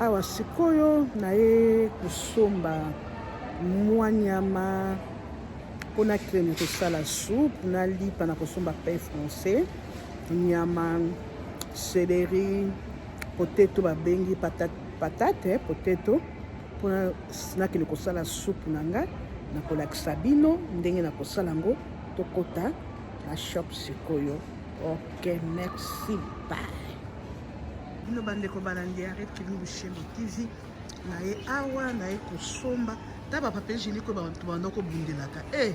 Awa sikoyo naye kosomba mwa nyama mpo na creme kosala soupe na lipa na kosomba pain français nyama celery poteto babengi patate, patate eh, poteto mpo nakende kosala soupe na nga nakolakisa bino ndenge na kosala yango tokota na shop sikoyo ok merci bye bino bandeko balandi ya red kilingu shembo tv naye awa naye kosomba ta bapapie jeniko bato banda kobundelaka e eh,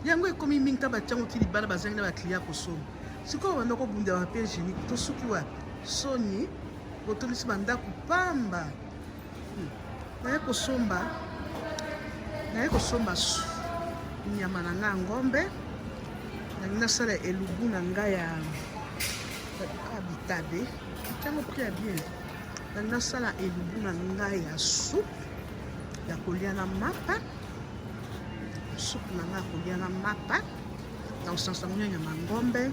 yango ekomi mingi ta batiango ti libala bazangi na baklia kosomba sikoyo banda kobundela bapie jeniko tosuki wapi soni botondisi bandako pamba naye kosomba naye kosomba nyama na ngai ya ngombe nalingi nasala elubu na ngai ya bitabe ntango pri ya bien nalingi nasala elubu na ngai ya supu ya kolya na mapa supu na ngai ya kolya na mapa na kosangisa yango na nyama ya ngombe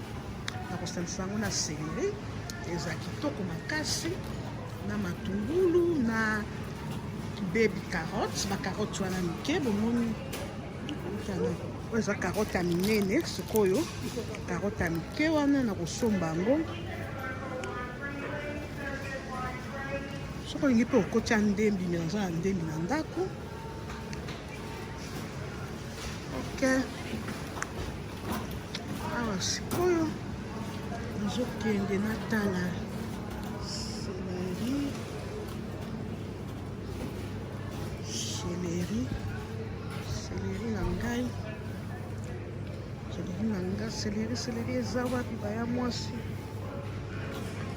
na kosangisa yango na seleri eza kitoko makasi na matungulu na baby carotte bacarotte wana mike bomoni oyo eza carotte ya minene sikoyo carotte ya mike wana na kosomba yango soki olingi mpe okotya ndembi me naza na ndembi na ndako Okay. Awa sikoyo nazokende natala seleri seleri eza wapi baya mwasi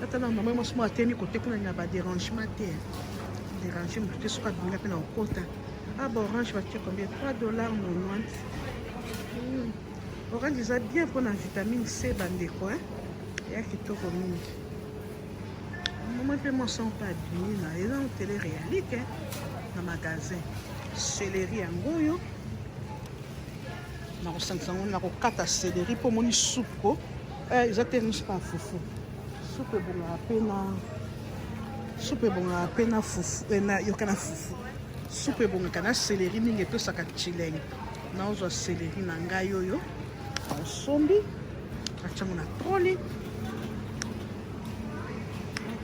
ata na mama mwasi moko atemi kote kuna na baderangement te derange motu te soki abimela mpe na kokota Ah bah orange va tuer combien 3 dollars 90. Hmm. Orange eza bien pour la vitamine C bandeko hein. Ya kitoko mingi. Maman pe moi sans pas abimi na eza na tele réalité hein. Na magasin. Céleri yango oyo. Na kosangisa yango na kokata céleri mpo omoni soupe ko. Eh, eza te riche pa fufu. Soupe ebongaka mpe na soupe ebongaka mpe na fufu eh, na yoka na fufu. Supu ebongaka na seleri mingi epesaka chileng. Naozwa seleri na ngai oyo osombi natyango na troli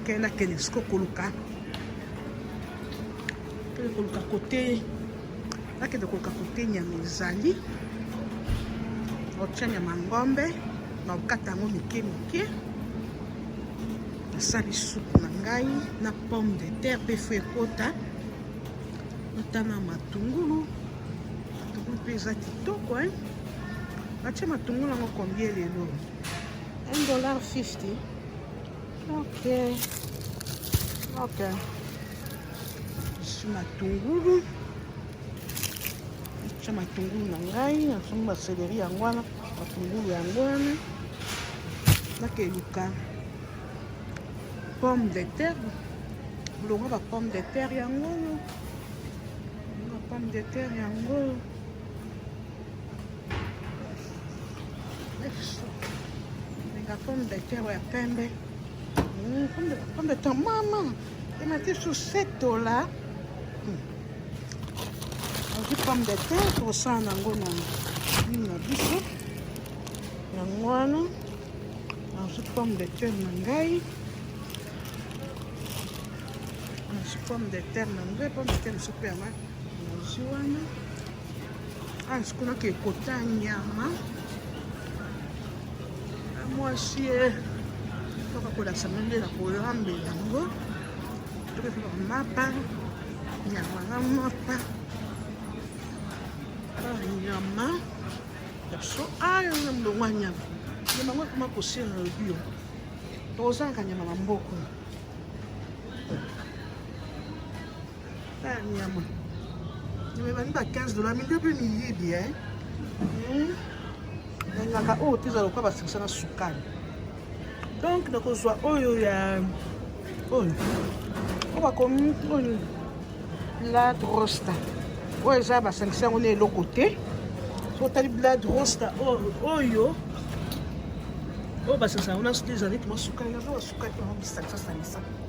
ke nakende siko koluka kende koluka kote nakende koluka kote nyama ezali otya nyama ngombe na okata yango mike mike nasali supu na ngai na pomme de terre mpe fo ekota ata na matungulu matungulu mpe eza kitoko e batye matungulu yango kombie lelo 1 dollar 50 ok ok esi matungulu Natia matungulu na ngai, nasungi ba celery yango wana, matungulu yango wana. Nakeluka pomme de terre, bolonga ba pomme de terre yango oyo, ba pomme de terre yango oyo. Lenga pomme de terre ya pembe, hmm, pomme de terre mama emati susetola. Hmm. azwi pomme de terre tosala nango na nini na biso yango wana nazwi pomme de terre na ngai nazwi pomme de terre na ngai pomme de terre sope yanga nazwi wana azi ah, kuna ke ekota nyama ah, mwasi ye eh, kaka kolasama nde na kolambela yango Mapa, nyama na mapa, nyama ya so ayo na mbongo ya nyama nyama yango ekoma kosila na bio tozalaka nyama na mboko Ah, nyama. Nimebani ba 15 dollars, mingi mpe miyibi, eh. Hmm. Nangaka oyo oh, teza lokola basikisa na sukali. Donc nakozwa oyo oh, ya oyo. Oh. Oyo bakomi oyo la rosta. Oyo eza basangisa yango na eloko te. Totali blood rosta oyo oyo basangisa yango na soki ezali tuma sukali, nazo basukali yango bisangisa sangisa.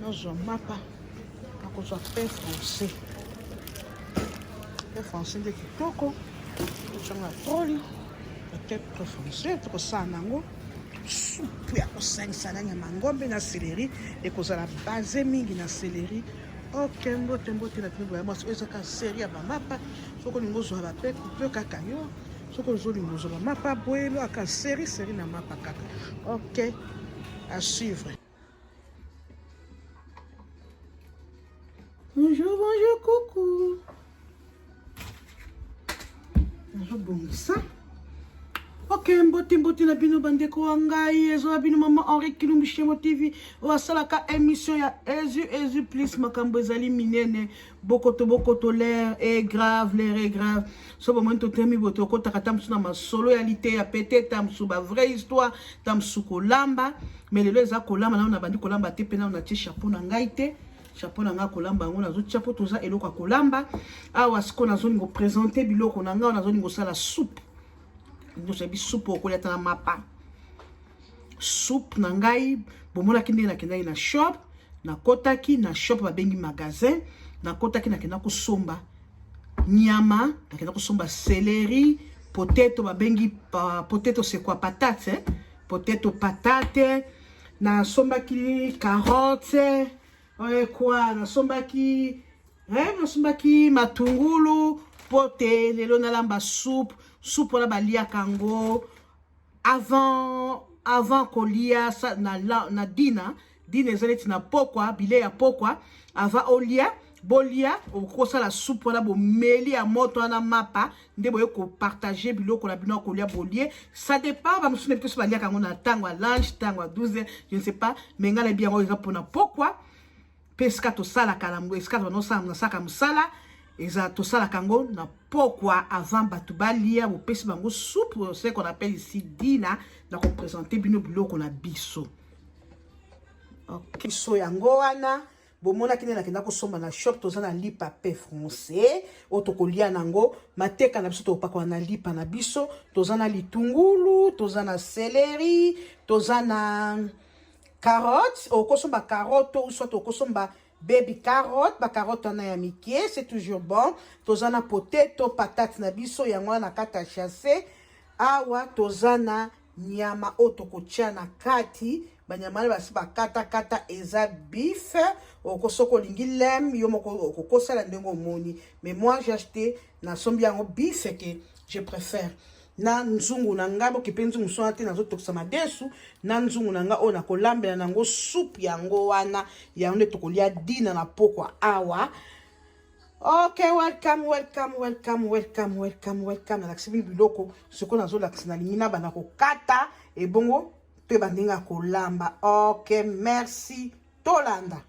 nazwa mapa nakozwa pain français pain français nde kitoko ozonga troli peut-être pain français tokosala nango supu ya kosangisa na nyama ngombe na seleri ekozala base mingi na seleri ok mbote mbote na bino boya mwasi oyo ezaka serie ya bamapa soki olingi ozwa bape kupe kaka yo soki ozolinga ozwa bamapa boyelo aka serie serie na mapa kaka ok à suivre Bonjour, bonjour, coucou. nazobongisa ok mbote mbote na bino bandeko wa ngai ezoya bino mama henri kilumbu shemo tv oyo asalaka émission ya ezu ezu plus makambo ezali minene bokoto bokoto l'air est grave l'air est grave so bomoni totemi boye tokotaka ta mosusu na masolo ya liteya pete ta mosusu ba vraie histoire ta mosusu kolamba me lelo eza kolamba nano nabandi kolamba te mpe nano natie chapeau na ngai te chapeau na ngai kolamba yango nazotia mpo toza eloko ya kolamba awa sikoyo nazolingi kopresente biloko na ngai nazolingi kosala soupe nyonso yabi soupe okolia ta na mapa soupe na ngai bomonaki ndenge nakendaki na shop nakotaki na shop babengi magasin nakotaki nakenda kosomba nyama nakenda kosomba celery poteto babengi uh, poteto sekwa patate eh? poteto patate nasombaki carotte oyekwa eh, nasombaki eh, nasombaki matungulu mpo te lelo nalamba soupe soupe wana baliaka yango avant avant kolia na, na, na dina dina eza neti na pokwa bile ya pokwa avant olia bolia okosala supu wana bomeli ya moto wana mapa nde boye kopartage biloko na bino ya kolia bolie ça dépend bamosusu na biso baliaka yango na ntango ya lunch ntango ya 12 je ne sais pas me ngai nayebi yango eza mpona pokwa mpe esika tosalaka yango esika nasalaka mosala eza tosalaka yango na pokwa avant bato balia bopesi bango soupe ce qu'on appelle ici dina na kopresente bino biloko na biso okay. biso yango wana bomonaki nde nakenda kosomba na shop toza na lipa pe français oyo tokolia na yango mateka na biso tokopakola na lipa na biso toza na litungulu toza na seleri toza na carotte okosomba carotte ou soit okosomba baby carotte bacarotte wana ya mike c'est toujours bon toza na poteto patate na biso yango wana na kati ya chasse awa toza na nyama oyo tokotya na kati banyama wana basi bakatakata eza bif oko soki olingi lem yo moko okokosala ndenge omoni mais moi j'ai acheté nasombi yango bif eke je préfère na nzungu na ngai bokipe nzungu swana te nazotokisa madesu na nzungu na ngai oyo nakolambela na yango supu yango wana yango nde tokolia dina na pokwa awa ok welcome welcome welcome welcome welcome welcome nalakisi bino biloko sikoyo nazolakisa nalingi na banda kokata ebongo to ebandinga kolamba ok merci tolanda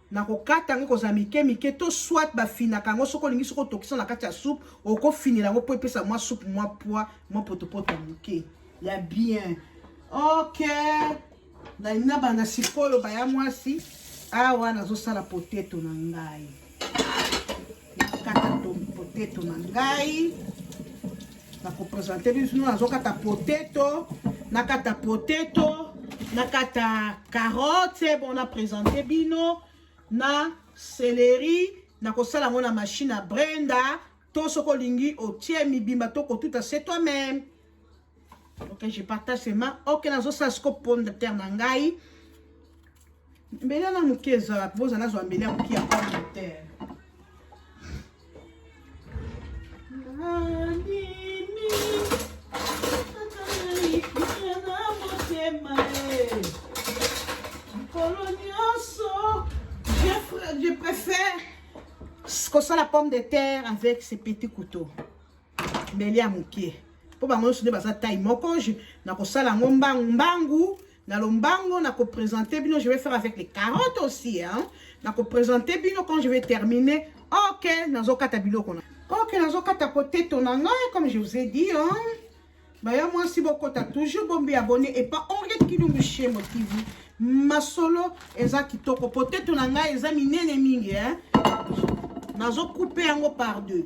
na kokata yango ekozala mike mike to soit bafinaka yango soki olingi soki otokisa na kati ya soupe okofinela yango mpo epesa mwa soupe mwa pwa mwa potopoto moke ya bien ok nalingi na banda sikoyo baya mwasi awa nazosala poteto na ngai nakata poteto na ngai nakopresente bino nazokata poteto nakata poteto nakata carotte bon napresente bino na celeri nakosala yango na mashine ya brenda to soki olingi otie mibimba to kotuta se toi meme ok je partage sema ok nazosala siko pomme de terre na ngai mbele na moke ezala mpo oza nazwa mbele ya moke ya communautaire je préfère kosala pomme de terre avec ce petit couteau mbeli ya moke mpo bango nyonso nde baza taille moko nakosala yango mbangu mbangu na lombango nakopresente bino je vais faire avec les carottes aussi hein? nakopresente bino quand je vais terminer ok nazokata biloko na ok nazokata poteto na ngai comme je vous ai dit hein? baya mwasi bokota toujours bombi abonne epa henriette kilungu shemo tv masolo eza kitoko poteto na ngai eza minene mingi hein? nazokoupe yango par deux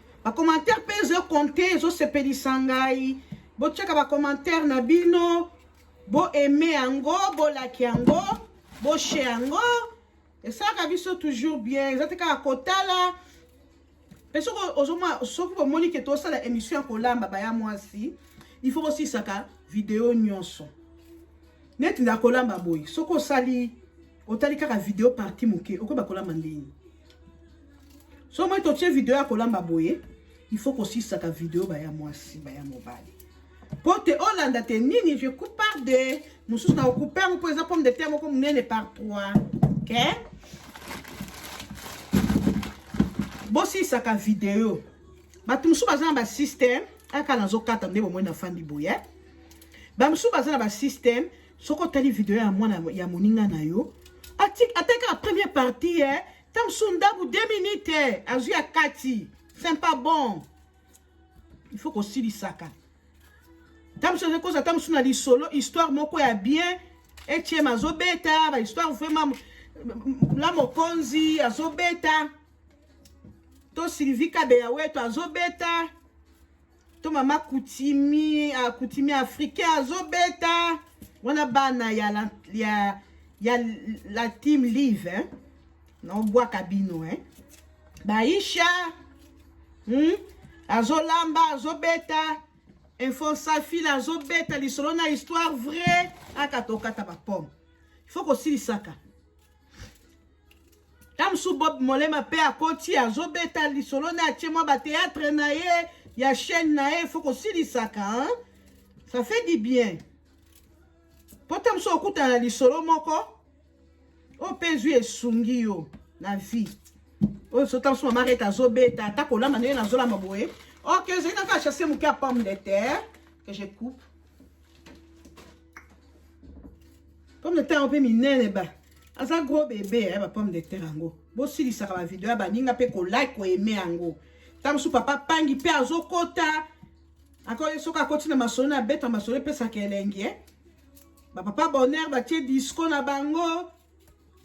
Ba commentaire pe ezo compter ezo sepelisa ngai. Botiaka ba commentaire na bino, bo aimer yango, bo like yango, bo share yango. Esalaka biso toujours bien. Eza te kaka kotala. Pe soki ozoma soki bomoni ke tosala emission ya kolamba baya mwasi, il faut bosisaka video nyonso. Neti na kolamba boye, soki osali otali kaka video parti moke okoyeba kolamba ndenge so moi totie video ya kolamba boye il faut kosisaka video baya mwasi baya mobali mpo te olanda te nini je coupe par deux mosusu na okupe yango mpo eza pomme de terre moko monene par trois ok bosilisaka video bato mosusu baza na basystème aka nazokata nde bomoi nafandi boye bamosusu baza na basystème soki otali video ya mwana ya moninga na yo ata kaka première partie eh, ta mosusu ndambu 2 minute eh, azwi ya kati c'est pas bon il faut kosilisaka ta mosusu azokoza ata mosusu na lisolo histoire moko ya bien etiem azobeta bahistoire vraiment la mokonzi azobeta to sylvie kabeya wetu azobeta to mama kutimi ah, kutimi africain azobeta wana bana ya la, ya, ya la team live hein? naobwaka bino hein? baisha hmm? azolamba azobeta info safila azobeta lisolo na histoire vrai aka tokata bapome il faut kosilisaka Tamsu Bob Molema pe akoti azobeta lisolo na atie mwa ba théâtre na ye ya chaîne na ye faut kosilisaka hein? ça fait du bien po Tamsu okutana lisolo moko oyo pe ezwi esungi yo na vie oyo so Tamsu mama reta azobeta ata kolamba ndenge nazolamba boye ok ezali na kaka chasse moke ya pomme de terre que je coupe pomme de terre mpe minene ba aza gros bebe ya eh, ba pomme de terre yango bosilisaka bavideo ya baninga mpe kolike koyeme yango ntango mosusu papa pangi mpe azokota akoki soki akoti na masolo na abeta masolo epesaka elengi eh? bapapa bonheur batie disco na bango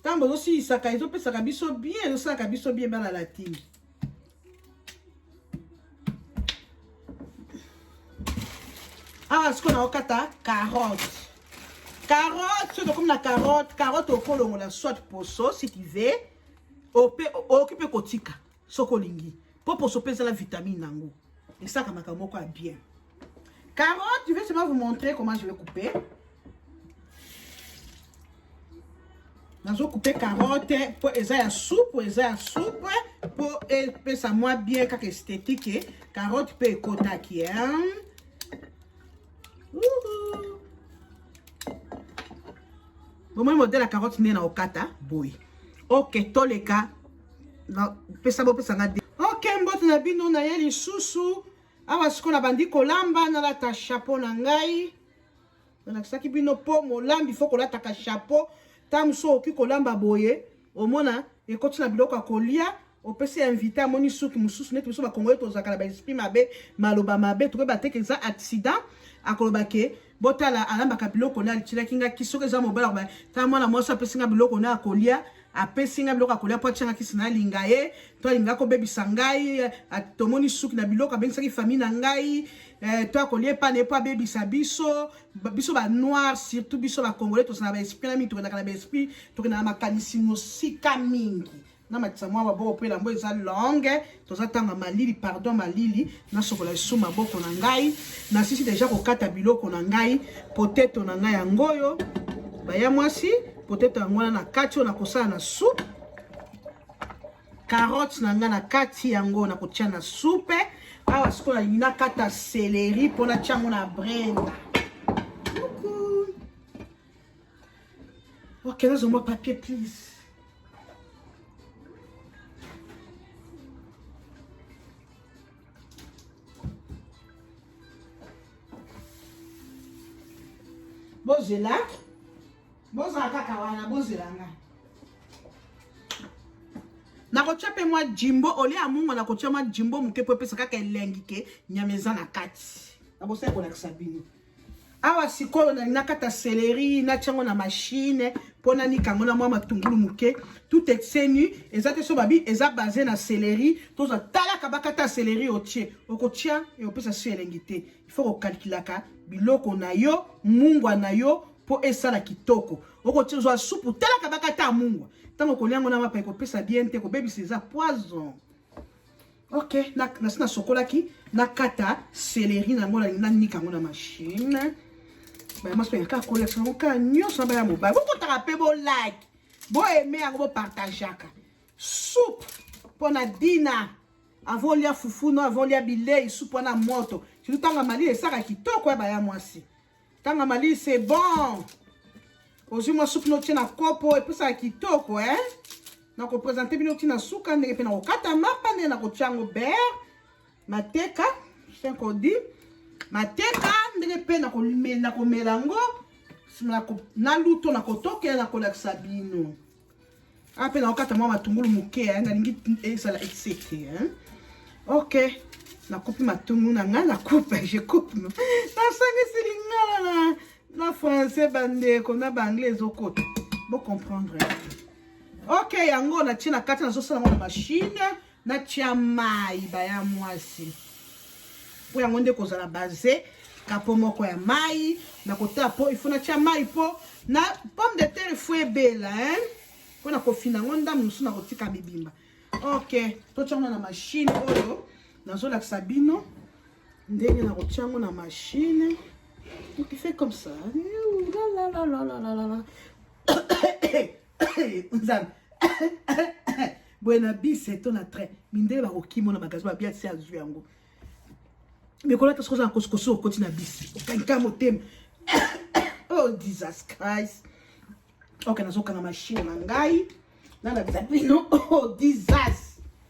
ntango bozosilisaka ezopesaka biso bien ezosalaka biso bien bana latini awa sikoyo naokata carotte carotte soki tokomi na carotte carotte okolongola soit poso si tu veux ope okoki mpe kotika soki olingi mpo poso mpe ezala vitamine na yango esaka makambo moko ya bien Carotte, je vais seulement vous montrer comment je vais couper. Je couper carotte pour eza ya soupe, pour eza ya soupe, pour ça moi bien kaka esthétique. Eh. Carotte peut ekota qui hein. bomoni modele ya carotte nde na okata boye oke toleka bopesa nga de oke mbote na bino na ye lisusu awa sikoyo nabandi kolamba nalata chapeau na ngai nalakisaki bino mpo molambi fo kolataka chapeau ntango mosusu okoki kolamba boye omona ekoti na biloko ya kolia opesi invité amoni suki mosusu neti biso bakongoli tozalaka na baesprit mabe maloba mabe tokoyeba te ke eza accident akoloba ke botala alambaka biloko na alitilaki nga ki soki eza mobala koba ta mwana mwasi apesi nga biloko na akolia apesi nga biloko akolia mpo atianga kisi na alinga ye to alinga kobebisa ngai tomoni suki na biloko abengisaki famille na ngai eh, to akolia epa na ye mpo abebisa biso biso ba noir surtout biso ba congolais tozala ba esprit na mingi tokendaka na ba esprit tokendaka na makanisi mosika mingi na matisa mwa maboko mpo elambo eza longue toza tanga malili pardon malili nasokola esu maboko na ngai nasisi deja kokata biloko na ngai poteto na ngai yango oyo baya mwasi poteto yango wana na kati oyo nakosala na soupe carotte na ngai na kati yango nakotia na soupe awa sikoyo nalingi nakata seleri mpo natya yango na brenda Ok, là, je papier, please. bozela bozala kaka wana bozela nga nakotya mpe mwa jimbo olie ya mungo nakotya mwa jimbo moke mpo epesa kaka elengi ke nyama eza na kati nabosa ekolakisa bino awa sikoyo nalingi nakata seleri natya yango na mashine mpo nanika yango na mwa matungulu moke tout exenu eza te so babi eza base na seleri tozwa talaka bakata seleri otye okotya ekopesa so elengi te ifo kokalkulaka biloko na yo mungwa na yo mpo esala kitoko okozwa supu talaka bakata mungwa ntango okolya yango na mapa ekopesa bien te ekobebisa eza poison ok nasi nasokolaki nakata celeri na yango nanika yango na machine baya mwasi mpe kaka kolakisa yango kaka nyonso na baya mobali bokotaka mpe bolike boaime yango bopartageaka soupe mpo na dina avant olia fufu no avant olia bilei supu wana moto surtout ntanga malili esaka kitoko ya baya mwasi Tanga mali c'est bon. Ozwi mwa soupe notie na kopo epesaka kitoko eh? na kopresente bino ti na suka ndenge mpe na kokata mapa ndenge na kotya yango bere mateka senkodi mateka ndenge mpe na komela yango na luto na kotokela na kolakisa bino Ah, pe nakokata mwa matungulu moke eh, nalingi ezala eh, esete eh. ok nakupi matungulu na ngai nakupe je coupe nasangisi lingala na, na français bandeko na baanglais ezokota bocomprendre ok yango natie na kati nazosala yango na mashine natya mai baya mwasi mpo yango nde kozala base kapo moko ya mai nakotaa mpo ifo natya mai mpo na pomme de terre fo ebela hein? mpo na kofina yango ndambo mosusu nakotika mibimba ok totya yango na mashine oyo nazolakisa bino ndenge nakotya yango na mashine okife comme ça eh, nzambe boye na bise to na train mindele bakokima na magasin babia si azwi yango mikolo ata sokozala kosikosi okoti na bise okanka motema oh jesus christ oke nazokanga mashine na ngai nalakisa bino oh jesus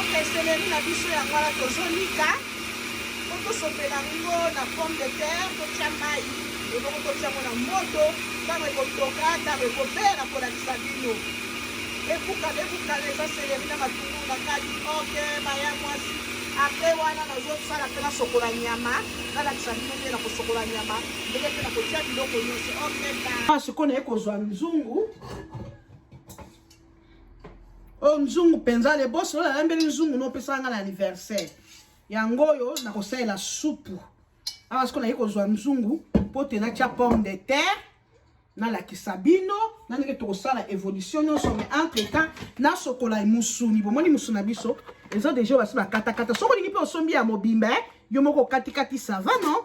ok seleri na biso yango wana tozonika po tosopela yango na pomme de terre totya mai ebongo totya yango na moto ntango ekotoka ntango ekobela kolakisa bino ebukana ebukana eza seleri na matungu na kati ok baya mwasi apres wana nazosala mpe nasokola nyama nalakisa bino nde na kosokola nyama ndenge mpe na kotya biloko nyonso ok sikoyo naye kozwa nzungu oyo nzungu mpenza leboso oyo nalambeli nzungu nopesaka ngai na anniversaire yango oyo nakosalela supu awa sikoyo naye kozwa nzungu mpo te natya pomme de terre nalakisa bino na ndenge tokosala évolution nyonso mais entre temps nasokola mosuni bomoni mosuni na biso eza deja basi bakatakata soki olingi mpe osombi ya mobimba eh, yo moko okatikati sava non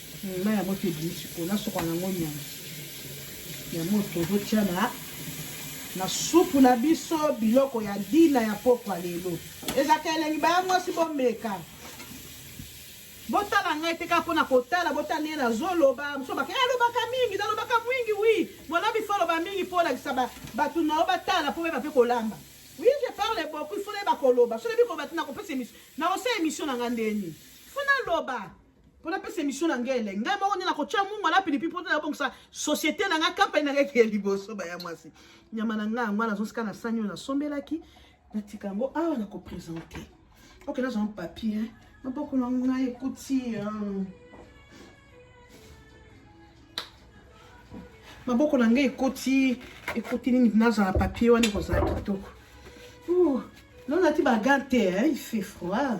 Mai ya moto ebimi sikoyo, nasokola na yango nyama ya moto tozotia na na supu na biso biloko ya dina ya pokwa lelo ezalaka elengi baya mwasi bomeka botala ngai te kaka mpona kotala botala ndenge nazoloba mosusu bake alobaka eh, mingi nalobaka mwingi wi mwana bifo aloba mingi mpo olakisa bato na yo batala mpo beba mpe kolamba wi je parle beaucoup ifo nayeba koloba so nayebi koloba te nakopesa emission nakosala emission na ngai ndeni fo naloba mpo napesa emission na ngai elenge ngai moko nde nakotya mungu na pilipi mpo nabongisa société na ngai kampani na ngai kee liboso baya mwasi nyama na ngai yango wana azosika na sani oyo nasombelaki natika yango awa nakopresente oke naza na papier maboko na ngai ekuti maboko na ngai ekoti ekoti nini nazala papier wana ekozala kitoko nonati bagante il fait froid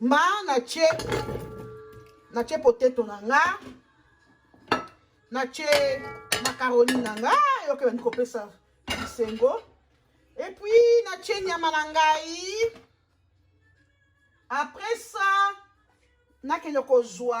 mba natie natie poteto na nga natie makaroni na nga yoke bandi kopesa bisengo epuis natie nyama na ngai après ça nakende kozwa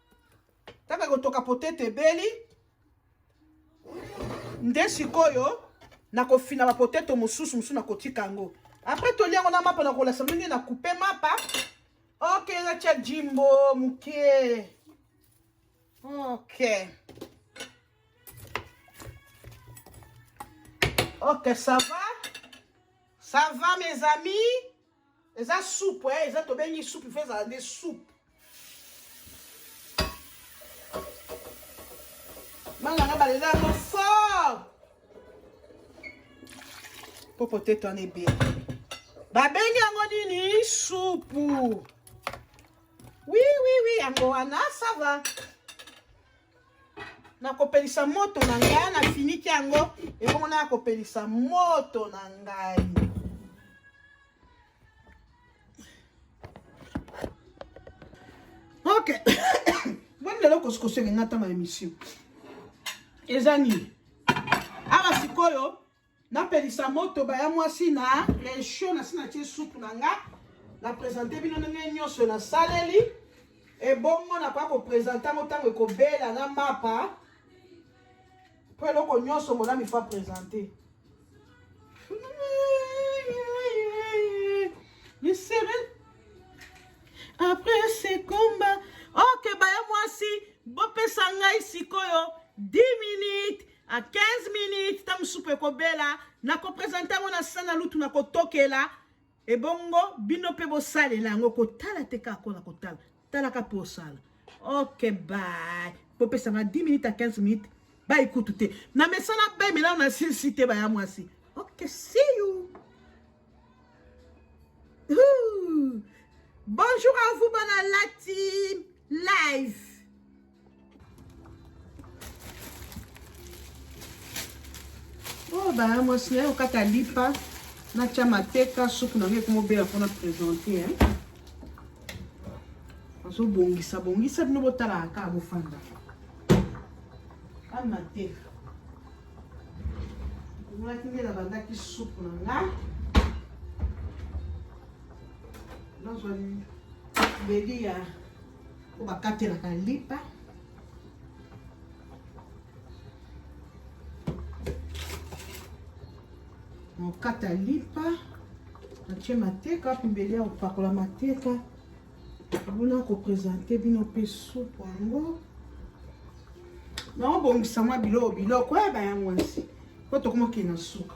taka kotoka potete ebeli nde sikoyo nakofina bapoteto mosusu mosusu nakotika yango apres toli yango na mapa nakolasa ndenge na coupe mapa ok natya jimbo moke ok ok ça va ça va mes amis eza soupe eh, eza tobengi soupe ife ezala nde soupe manga nga bala eza yango fort mpo potete wana ebele babengi yango nini supu wi wi wi yango wana sava nakopelisa moto na ngai nafiniki yango ebongo na kopelisa moto na ngai ok boni lelo kosikosengenga ntango ya emission eza nini awa sikoyo napelisa moto baya mwasi na rechaud nasi natie supu na nga na presente bino ndenge nyonso nasaleli ebongo nakoya kopresente yango ntango ekobela na mapa mpo eloko nyonso monami fa presente misere après ce combat ok baya mwasi bopesa ngai sikoyo 10 minutes a 15 minutes ntango supu ekobela nakopresente yango na sana lutu nakotokela ebongo bino mpe bosalela yango kotala te kaka kola kotala talaka mpo osala ok bay bopesa nga 10 minutes a 15 minutes bayi kutu te na mesana bay melao na silisi te baya mwasi ok see you Ooh. bonjour à vous bana lati live oyo oh, baya mwasi naye okata lipa natya mateka supu na ngai ekomobela mpona présente azobongisa bongisa bino botalaka kaka bofanda ana mateka emonaki nde nabandaki supu na nga nazwa mbeli ya oyo bakatelaka lipa nakokata lipa natie mateka pembeli ya kopakola mateka abona kopresente bino mpe supu yango naobongisa mwa biloko biloko yaba ya mwasi mpo tokomokende na suka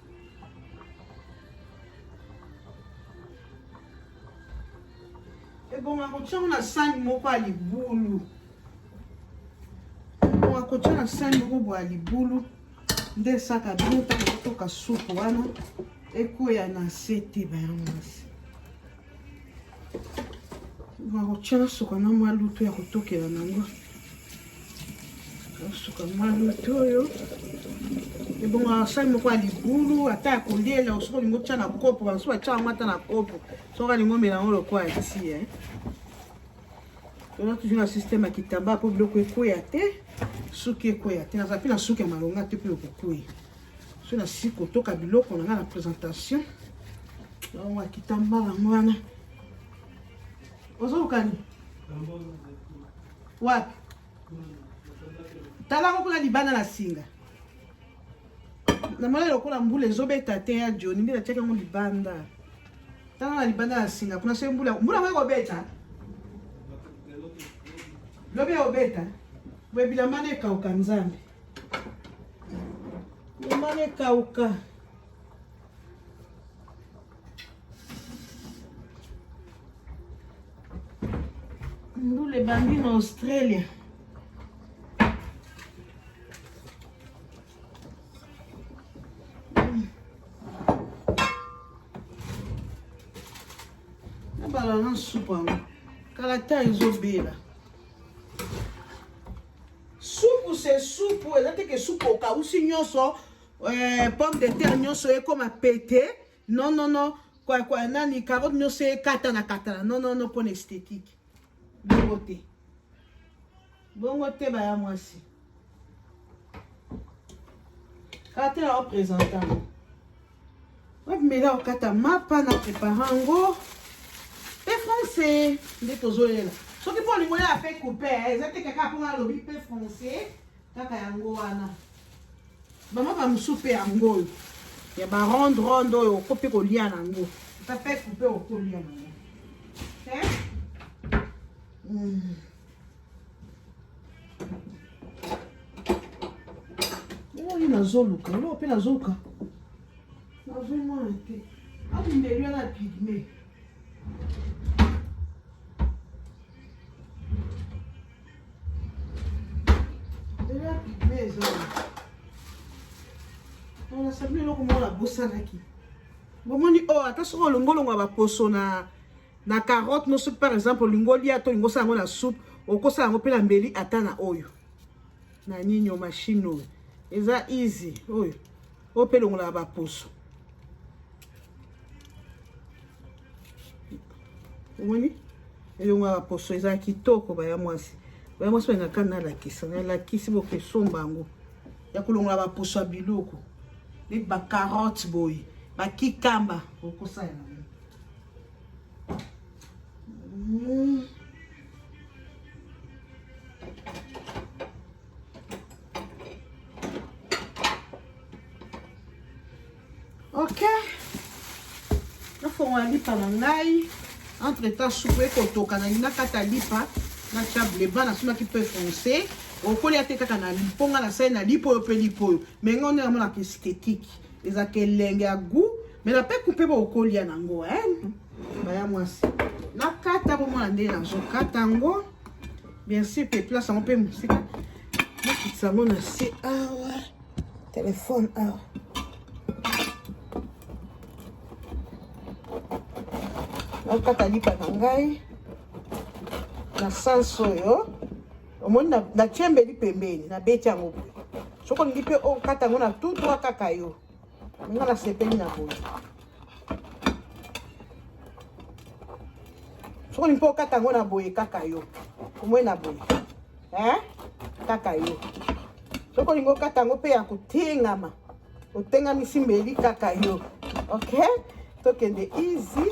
ebonga kotya ngo na sani moko ya libulu ebonga kotya na sani moko bwa ya libulu nde esaka bino ntango kotoka supu wana ekweya na se te bayango na se bakotya na suka na mwa lutu ya kotokela nango suka mwa lutu oyo ebongo asali moko ya libulu ata ya kolela soki olingi otya na kopo basusu batya yango ata na kopo soki alingi omela yango lokola ya tie eh. toza toujours na système ya kitamba mpo biloko ekweya te suki ekweya te naza mpe na suki ya malonga te mpe okokwei so nasili kotoka biloko na ngai na présentation yango akita mbala yango wana ozokani wapi tala yango kuna libanda na singa namoni lokola mbula ezobeta te ya joni nde natiaki yango libanda tala na libanda na singa kuna soki mbula mbula yango ekobeta lobi ekobeta boye bilamba nde ekauka nzambe Nyama ekauka. Ndule ebandi na Australia. nabala na supu yango kalata ezobela Supu se supu eza te ke supu okausi nyonso eh, pomme de terre nyonso ekoma pete non non non kwa kwa nani carotte nyonso ekatana katana non non non mpona esthétique bongo te bongo te baya mwasi kaka te na opresentama bamela okata mapa na prepara yango pe français nde tozolela soki mpo olingo ya pe coupe eh, eza te kaka mpo nalobi pe français kaka yango wana bamapa mosusu mpe yango oyo ya baronde ronde oyo oko mpe kolia na yango ata pe coupe okolia na yango eh? hmm. oyo nazoluka yo mpe nazoluka nazomona te abundeli wana pigme ela pigme eza nasabi eloko moko nabosanaki bomoni oyo oh, ata soki olongolongo ya baposo na na carotte no soki par exemple olingi olia to olingi osala yango na soupe okosala yango mpe na mbeli ata na oyo na nini o machine oyo eza easy oyo oyo mpe elongolaka baposo omoni elongolaka baposo eza kitoko baya mwasi baya mwasi balingaka nalakisa nalakisi bokesomba yango ya kolongola baposo ya biloko neti bacarotte boye bakikamba okosala ok nafongola lipa na ngai entre temps supu ekotoka nalingi nakata lipa na tia bleba nasunaki peu foncé okolia te kaka na liponga na sai na lipo oyo mpe lipo oyo me ngai nde namonaka estetike eza kelenge ya gout mais na peku mpe bokolia nango hein baya mwasi nakata bomona ndenge nazokata yango bien sûr mpe place yango mpe mosika nakitisa yango na se awa telefone awa nakata lipa na ngai na sanso oyo omoni na, na chembeli pembeni na beti yango boye soki olingi mpe okata yango na tutwa kaka yo nga nasepeli na boye soki olingi mpe okata yango na boye kaka yo omoni na boye eh? kaka yo soki olingi okata yango mpe ya kotengama otengamisi mbeli kaka yo ok tokende easy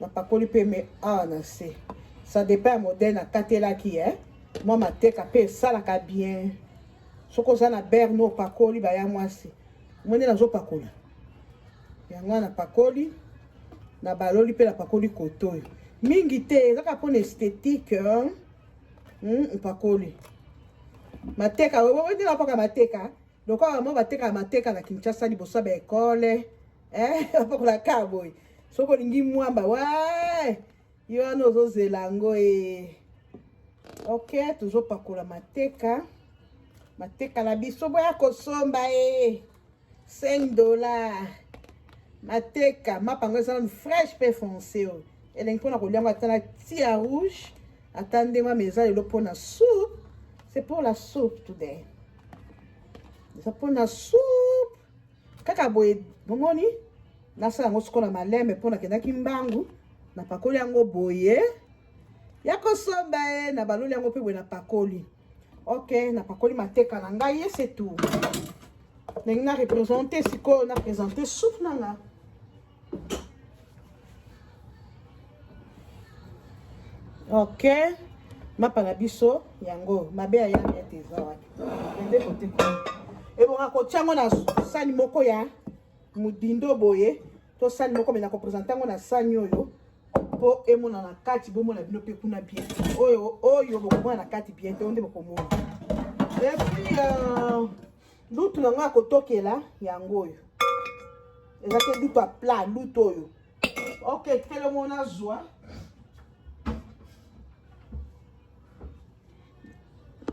napakoli mpe me awa na se ça dépend ya modèle nakatelaki e eh? mwa mateka mpe esalaka bien soki oza na berne opakoli baya mwasi omoni nazopakola yango wana napakoli na baloli mpe napakoli koto oyo mingi te ezaka mpona esthétique hmm, mpakoli mateka oyo nde napaka mateka lokola bamwa batekaka mateka na kinshasa liboso ya baekole eh, apakola ka boye soki olingi mwamba wa yo wana ozozela yango e ok tozopakola mateka mateka na biso boya kosomba e 5 dollar mateka mapa yango eza nanu fraîche mpe foncé oyo elengi mpona kolia yango ata na tia rouge ata ndenge mama eza lelo mpona soupe c'est pour la soupe today eza mpo na soupe kaka boye bomoni nasala yango sikola maleme mpo nakendaki mbangu napakoli yango boye ya kosomba ye na baloli yango mpe boye napakoli ok napakoli mateka na ngai ye setu ndenge na represente sikoyo na presente soupe na nga ok mapa na biso yango mabe ya yanga ete eza wapi ende kote kuna ebonga kotya yango na sani moko ya modindo boye to sani moko me na kopresente yango na sani oyo mpo emonana kati bomona bino mpe kuna bien oyo oyo bokomona na kati bien te oyo nde bokomona epuis euh, Lutu na ngai ya kotokela yango oyo eza te lutu ya plat lutu oyo ok tikele ngo nazwa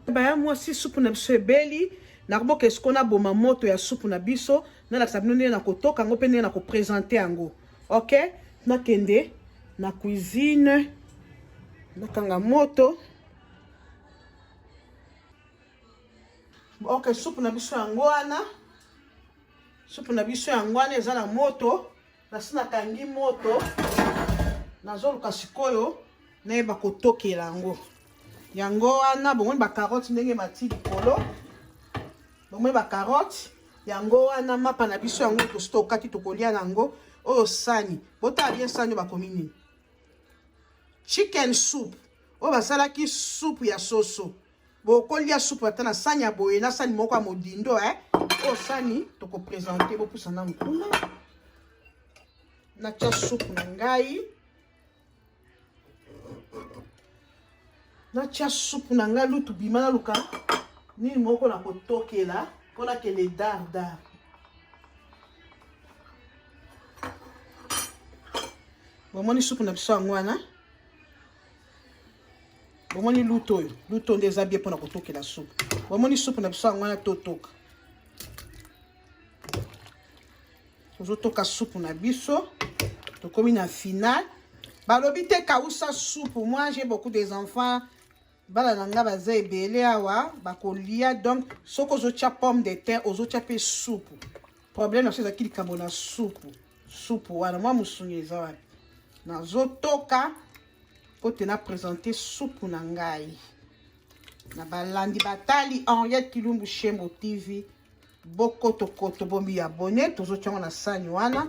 baya mwasi supu na biso ebeli nakoboka esiko naboma moto ya supu na biso nalakisa bino ndenge nakotoka yango mpe ndenge nakopresente yango ok nakende na cuisine nakanga moto Ok, supu na biso yango wana. Supu na biso yango wana eza na moto. Nasi nakangi moto. Nazoluka sikoyo nayeba kotokela yango. Yango wana bomoni ba carottes ndenge mati likolo. Bomoni ba carottes yango wana mapa na biso yango tosi tokati tokolia na yango oyo sani botala bien sani bakomi nini chicken soup oyo basalaki supu ya soso bokolia supu ata na sani ya boye na sani moko ya modindo eh? oyo sani tokopresente bopusa nanu kuna natya supu na ngai natya supu na ngai lutu bima naluka nini moko na kotokela mpo nakende dardar bomoni supu na biso yango wana bomoni luto oyo luto nde eza bie mpona kotokela supu bomoni supu na biso yango wana totoka tozotoka supu na biso tokomi na final balobi te kausa supu moi j'ai beaucoup des enfants bana na ngai baza ebele awa bakolia donc soki ozotya pomme de terre ozotya mpe supu problème na biso ezalaki likambo na supu supu wana mwa mosuni eza wapi nazotoka Kote na presente supu na ngai na balandi batali Henriette Kilumbu Shembo TV bokotokoto bomi ya bone tozotya yango na sani wana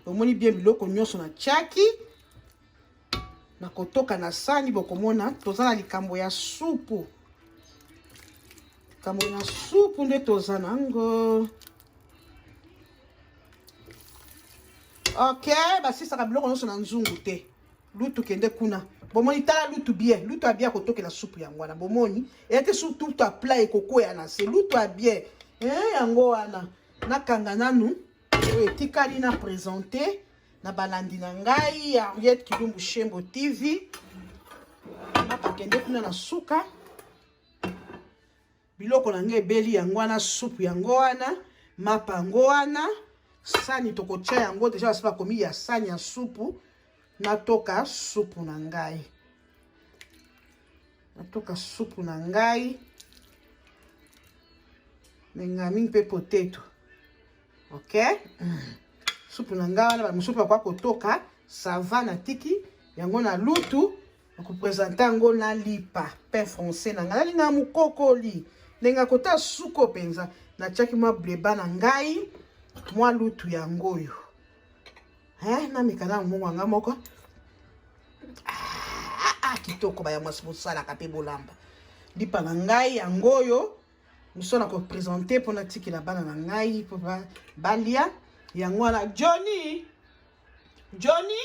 omoni bien biloko nyonso na tyaki na kotoka na sani bokomona toza na likambo ya supu likambo ya supu nde toza nango ok basisaka biloko nyonso na nzungu te lutu kende kuna bomoni tala lutu bien lutu abie akotokela supu yango wana bomoni eyate su lutu apla ekokwea na se lutu abie eh, yango wana nakanga nanu oyo etikali na presente na balandi na ngai ya henriette kilumbu shembo tv nakakende kuna na suka Biloko na ngai ebeli yango wana supu yango wana mapa yango wana sani tokotya yango deja basi bakomi ya sani ya supu natoka supu na ngai natoka supu na ngai mengami mpe poteto ok mm. supu na ngai wana bamosusu bakoka kotoka sava na tiki yango na lutu okopresente yango na lipa pain français na ngai nalingaka mokokoli ndenge akota suko mpenza natiaki mwa bleba na ngai mwa lutu yango oyo eh, namekana yango mongo yanga moko ah, ah, kitoko baya mwasi bosalaka mpe bolamba lipa na ngai yango oyo moso na kopresente mpo natikela bana na ngai mpo balia yango wana johnny johnny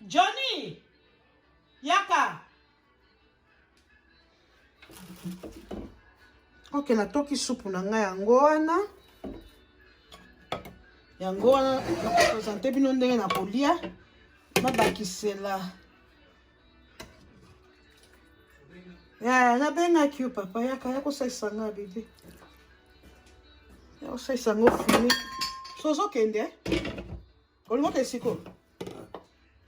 Johnny, yaka. Ok, natoki supu na ngai yango wana. Yango wana nakopresente bino ndenge nakolia. Nabakisela. Ya, nabengaki yo papa, yaka ya kosalisa ngai bebe. Ya kosalisa ngai ofini. So ozokende? Eh? olingo ke siko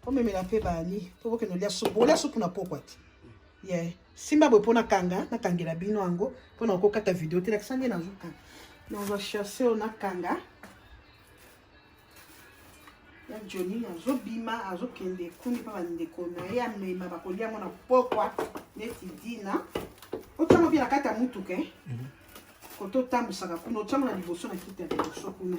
omemela mpe bani mpo bokende olia supu olia supu na pokwa te ye simba boye mpo nakanga nakangela bino yango mpo na kokata video te lakisa nde nazokanga nazwa chasse oyo nakanga ya joni azobima azokende ekuni mpa bandeko na ye amema bakolia yango na pokwa neti dina otyama mpe na kati ya motuka eh? mhm. koto otambusaka kuna otyama na liboso na kiti ya liboso kuna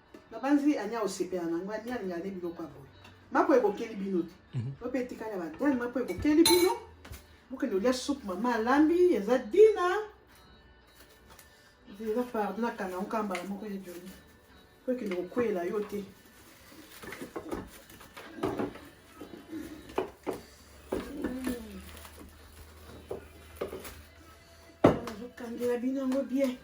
nabanzi anya osepela na yango anya alinga nde biloko ya boye mako ekokeli bino te mhm. oyo mpe etikali ya badane mako ekokeli bino bokende olya supu mama alambi eza dina eza pardon nakanga yango kaka mbala moko ya joli mpo ekende kokweyela yo te nazokangela bino yango bien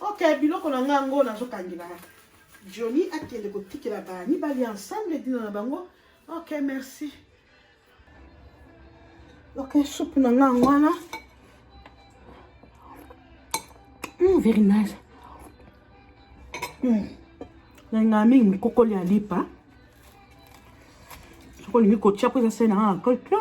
ok biloko na ngai yango nazokangela joni akende kotikela ba mibali ensemble dina na bango ok merci ok supu na ngai yango wana mm, very nice mm. nalingaa mingi mikokoli ya lipa soki olingi kotia mpo eza se na ngai na kolpio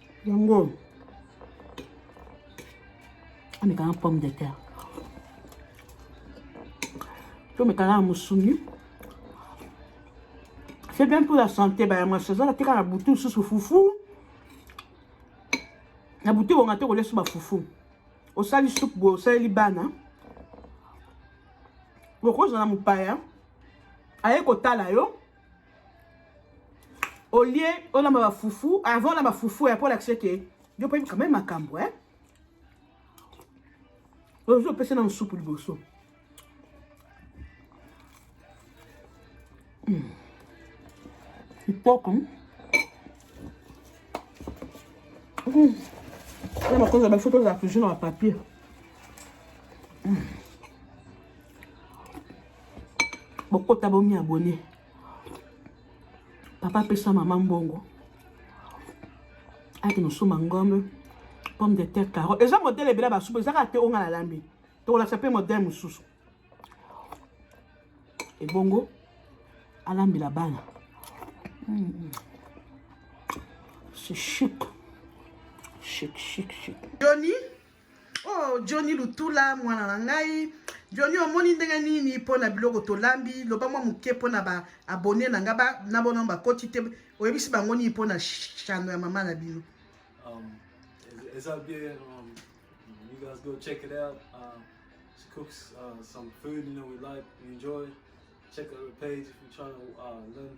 yango amekanga pomme de terre to mekalaka mosuni c'est bien pour la santé bayama sezala teka na butu susu fufu na butu ebonga te kolia su bafufu osali supu boye osaleli bana bokozala mopaya aye kotala yo au lieu olamba ba fufu avant olamba fufu ya po olakisa ke yo mpe quand même makambo eh? ozo opesa na mosupu liboso ipoko hmm. hmm. na makonzi ya bafoto ozala toujours na bapapier hmm. bokota bomi abonne papa apesa mama mbongo ake nosomba ngombe pomme de terre caro eza modele ebele basupu eza kaka te onga nalambi tokolakisa mpe modele mosusu ebongo alambela bana hmm. c'est chic chic chic chic Johnny oh Johnny Lutula mwana na ngai Johnny omoni ndenge nini mpo na biloko tolambi loba mwa moke mpo na ba abonne na ngai na bona bakoti te oyebisi bango nini mpo na chano ya mama na bino um, eza bien um, you guys go check it out uh, she cooks uh, some food you know we like we enjoy check out her page if you're trying to uh, learn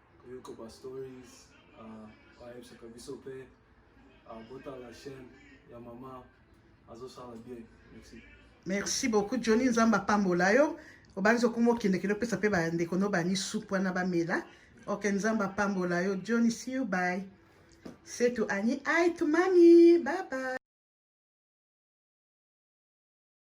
koyoka ba stories uh, ayebisaka biso mpe uh, botala chaîne ya mama azosala bien merci merci beaucoup johnny nzambe apambola yo obanzi okoma okendekende opesa mpe bandeko no bani supu wana bamela ok nzambe apambola yo johnny see you by setu ani ai to mami bye bye